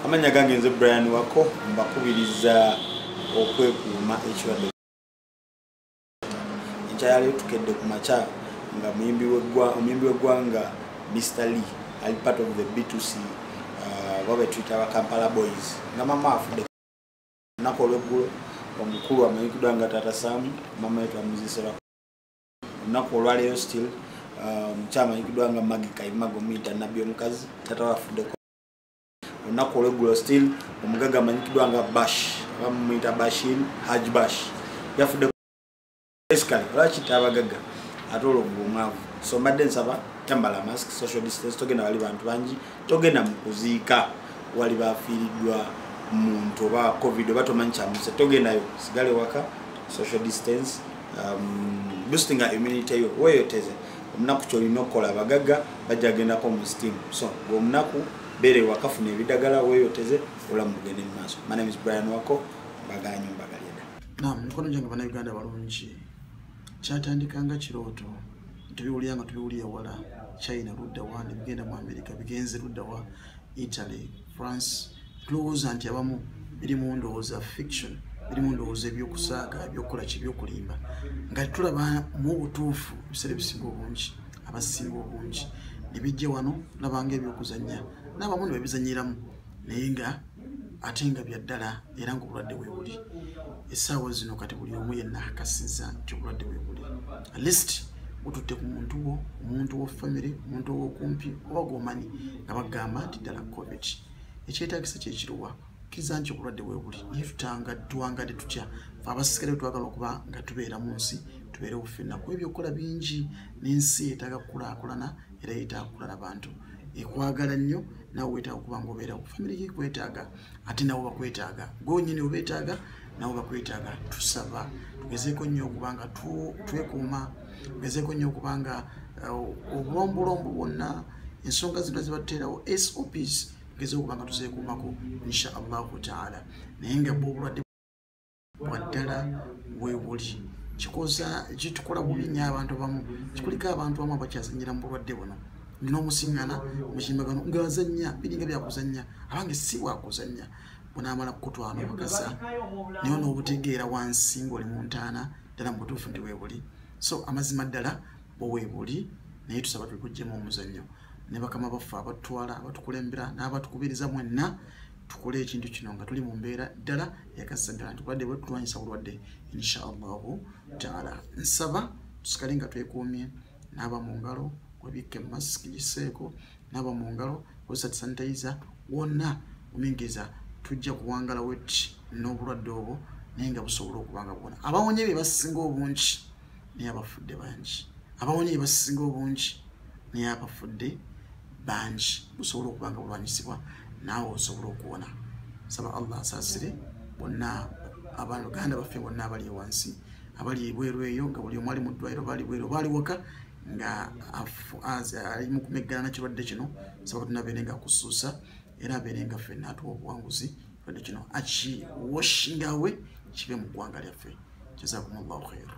amanya gange nze brian wako mbakubiriza okwekuuma ekirwadde ekyayaliyo tukedde ku makya nga muyimbi w'eggwanga mr lee ali part of the b2c uh, baba betuyita aba kampala boys nga mama afudde olunaku olweggulo omukulu amanyikiddwa nga taata samu mama yetu amuzisera olunaku olwaleero still uh, mukyamanyikiddwa nga magi kaimago muyita nabbi omukazi taata wafuddeko olunaku olweggulo still omugagga amanyikiddwa nga bash oba mumuyita bashin haj bash yafudde basically lwaki tabagagga ate olwo bwomwavu so mbadde nsaba tambala mask social distance togenda wali bantu bangi togenda mu kuziika wali bafiiriddwa muntu oba covid oba tomanyi kyamuse togendayo sigale waka social distance um, boostinga immunity yo weyoteze omunaku kyolina okukola abagagga bajja gendako mu steam so ngaomunaku beera ewakafuna ebidagala weyoteze olamu bugende mu maaso my name is brian wako baganyo mbagalyeda nam mikono gyange banauganda balungi kyatandika nga kirooto tubiwulira nga tubiwulira wala china luddawa nebigenda mu amerika bigenze luddawa italy france tulowooza nti abamu biri mu ndowooza fiction biri mu ndowooza ebyokusaaga ebyokukola ki ebyokulimba nga tulaba mu butuufu ebiseera ebisinga obungi abasinga obungi nebijja wano labanga ebyokuzanya n'abamu ne babizanyiramu naye nga ate nga byaddala era ngaobulwadde webuli esaawa zino kati buli omu yenna akasiza nti obulwadde webuli alist bututte ku muntu wo omuntu wo famiry omuntu owokumpi oba gomanyi nga bagamba nti ddala covid ekyetagisa kyekiruwa kiza nti obulwadde webuli naye tutanga tuwangadde tutya fe abasikale twagala okuba nga tubeera mu nsi tubeere bufenna kuba ebyokukola bingi n'ensi yetaaga kukulakulana era yetaaga kukulala bantu ekwagala nnyo nawe wetaaga okuba ngaobeerawo famiry yekwetaaga ate nabo bakwetaaga gwenyini obetaaga nabo bakwetaaga tusaba tugezeeko nnyo okuba nga twekuuma tugezeeko nnyo okuba nga uh, obulombulombo bwonna ensonga zino zibateerawo sops tugezeeko okuba nga tuzeekuumako insha allahu taala naye nga bwobulwadde waddala wewuli kikoza kitukola bubi nyo abantu bamu kikulika abantu bamu abakyazanyira mu bulwadde buno nomusiŋana mukimbagano ngazanya biringa byakuzanya abange si wakuzanya bunamala kukutwala obugasa naye nobutegeera wansi ngaoli mu ntaana ddala mu butuufu ndi webuli so amazima ddala bwewebuli naye tusaba tulikujjemu omuzannyo ne bakama baffe abatutwala abatukulembera n'abatukubiriza mwenna tukole ekintu kino nga tuli mu mbeera ddala yakasaddala nti obulwadde bwe tulwanyisa bulwadde inshaallahu taala nsaba tusikale nga twekuumye naaba mu ngalo webikke masiki giseeko naaba mu ngalo kozesa tisanitayiza wonna omingiriza tujja kuwangala wet n'obulwadde obwo naye nga busobola okuba nga bwona abawonye bye basinga obungi naye abafudde bangi abawonye ye basinga obungi naye abafudde bangi busobola okuba nga bulwanyisibwa naawe osobola okuwona saba allah asaasire bonna abaluganda baffe bonna abali ewansi abali ebweru eyo nga buli omwali mu ddwaliro baali bweru baali waka nga ali mu kumeggana na kirwadde kino saba tuna beere nga kusuusa era abeere nga ffe naatuwa obuwanguzi kirwadde kino akiwashingawe kibe mu ggwanga lyaffe jazakumullahu khairu